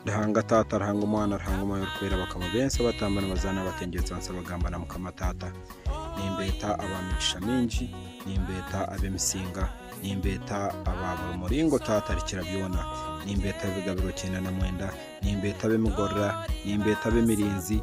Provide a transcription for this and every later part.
Ruhanga Taata, Ruhanga Omwana, Ruhanga Omwoyo Orikwera bakaba bensa batamba nibazaana batengyeetsa nsa bagamba na Mukama Taata, Nimbeeta aba migisha mingi, Nimbeeta ab'emisinga, Nimbeeta aba buri muringo Taata Arikira byona, Nimbeeta ab'ebigabiro kyenda na mwenda, Nimbeeta ab'emigorora, Nimbeeta ab'emirinzi,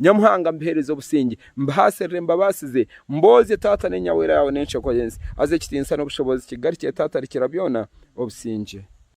Nyamuhanga, mbiheereze obusingye, mbihaasirire, mbabaasize, mboozye, Taata, n'enyawera yaawe n'enshego y'ensi. Haza ekitiinisa n'obushobozi kigarukire Taata Arikirabyona, obusingye.